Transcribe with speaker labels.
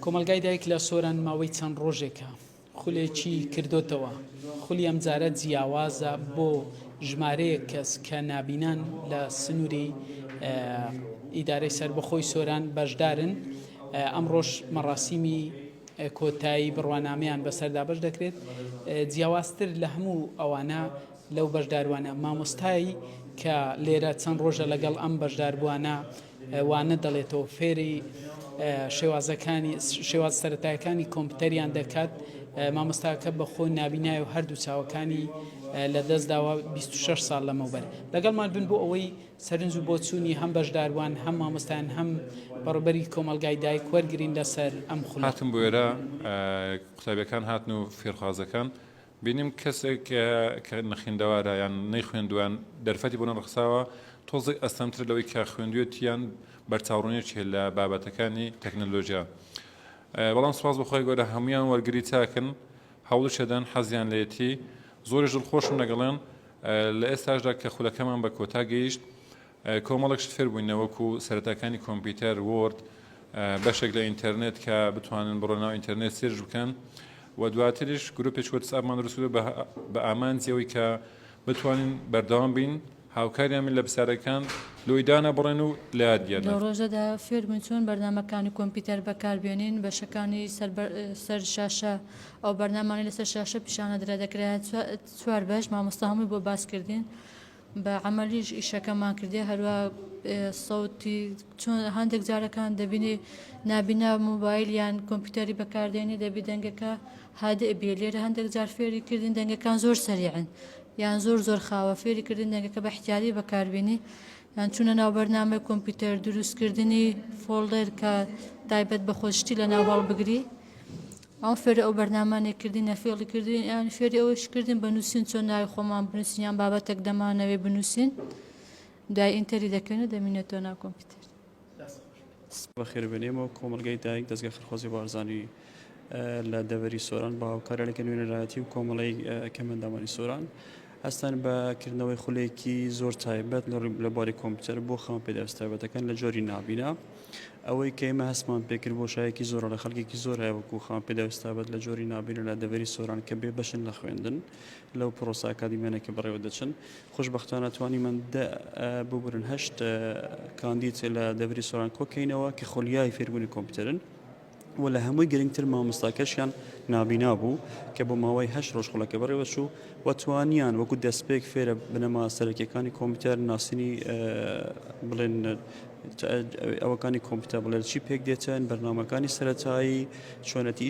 Speaker 1: کۆمەڵگای دایک لە سۆران ماوەی چەند ڕۆژێکە خولێکی کردوتەوە خولی ئەمجارە جیاوازە بۆ ژمارەیەک کەس کە نابینان لە سنووری ئیدارەی سربەخۆی سۆران بەشدارن ئەمڕۆژ مەڕاستیمی کۆتایی بڕوانامەیان بەسەردا بەش دەکرێت جیاوازتر لە هەموو ئەوانە لەو بەشداروانە مامۆستایی کە لێرە چەند ڕۆژە لەگەڵ ئەم بەشداربووانە وانە دەڵێتەوە فێری شێوازەکانی شێواز سەرەتایەکانی کۆمپیوتەریان دەکات مامۆستاکە بە خۆی نابینای و هەردوو چاوەکانی لە دەست داوە 26 سال لەمەوبەر لەگەڵمان بن بۆ ئەوەی سەرنج و بۆچوونی هەم بەشداروان هەم مامۆستان هەم بەڕبەری کۆمەلگای دایک وەرگین لەسەر ئەم خولاتم بۆێرە
Speaker 2: قوتابەکان هاتن و فێرخوازەکان بینیم کەسێک کە نەخیندەوارە یان نەیخوێندووەیان دەرفەتی بۆ نەڕەخساوە، تۆزێک ئەستەمترە لەوەی کە خوێندوویەتی یان بەرچاوڕوونیەکی هەیە لە بابەتەکانی تەکنەلۆجیا. بەڵام سوپاس بۆ خوای گەورە هەموویان وەرگری چاکن، هەوڵیشەدەن، حەزیان لێیەتی. زۆریش دڵخۆشم لەگەڵیان لە ئێستاشدا کە خولەکەمان بە کۆتا گەیشت. کۆمەڵێک شت فێر بووین نەوەکو سەرەتاکانی کۆمپیوتەر، وۆرد، بەشێک لە ئینتەرنێت کە بتوانن بڕۆ ناو ئینتەرنێت سێرچ بکەن و دواتریش گروپێکی وەتسئاپمان دروست کرد بە بە ئامانجی ئەوەی کە بتوانین بەردەوام بین هاوکاریان من لە پرسیارەکان لۆی دانەبڕێن و لە یاد بگێڕن. لەو ڕۆژەدا فێر
Speaker 3: بووین چۆن بەرنامەکانی کۆمپیوتەر بەکار بێنین، بەشەکانی سەر بە سەر شاشە ئەو بەرنامانەی لەسەر شاشە پیشان ئەدرا دەکرایە چوار بەش مامۆستا هەمووی بۆ باس کردین. بە عەمەلیش ئیشەکەمان کردیە هەروا سەوتی چۆن هەندێک جارەکان دەبینی نابینا موبایل یان کۆمپیوتەری بەکاردێنی دەبی دەنگەکە هادئ بێ لێرە هەندێک جار فێری کردین دەنگەکان زۆر سەریعن یان زۆر زۆر خاوە فێری کردین دەنگەکە بە احتیاری بەکاربیێنی یان چونە ناو بەرنامەی کۆمپیوتەر دروستکردنی فۆڵدەر کە تایبەت بە خۆشتی لە ناو هەڵبگری ئەوان فێری ئەو بەرنامانەی کردین نە فێڵی کردوین ئەیان فێری ئەوەش کردین بە نووسین چۆن ناوی خۆمان بنووسین یان بابەتێک دەمانەوێ بنووسین دوای ئینتەری دەکەین و دەمینێتەوە ناو کۆمپیوتەر بەخێربێنێمەوە
Speaker 4: کۆمەلگای دایک دەستگا خەرخۆزی بارزانی لە دەوەری سۆران بە هاوکارە لە کەنوێنەرایەتی و کۆمەڵی کەمەندامانی سۆران هەستان بە کردنەوەی خولێکی زۆر تایبەت لە بواری کۆمپیوتەر بۆ خاوەن پێداویستە تایبەتەکان لە جۆری نابینا ئەوەی کە ئێمە هەستمان پێکرد بۆ شایەکی زۆرە لە خەڵکێکی زۆر هەیە وەکو خاوەن پێداویست تایبەت لە جۆری نابینە لە دەڤەری سۆران کە بێ بەشن لە خوێندن لەو پرۆسە ئەکادیمیانە کە بەڕێوە دەچن خوشبختانە توانی من ببورن هەشت کاندید لە دەڤری سۆران کۆکەینەوە کە خولیای فێربوونی کۆمپیوتەرن و لە هەمووی گرنگتر مامۆستاکەشیان نابینا بوو کە بۆ ماوەی هەشت ڕۆژ خولەکە بەڕێوەچوو و توانیان وەکو دەستپێک فێرە بنەما سەرەکیەکانی کۆمپیوتەر ناسینی بڵێن ئەوەکانی کۆمپیوتەر بڵێن چی پێک دێتن بەرنامەکانی سەرەتایی چۆنەتی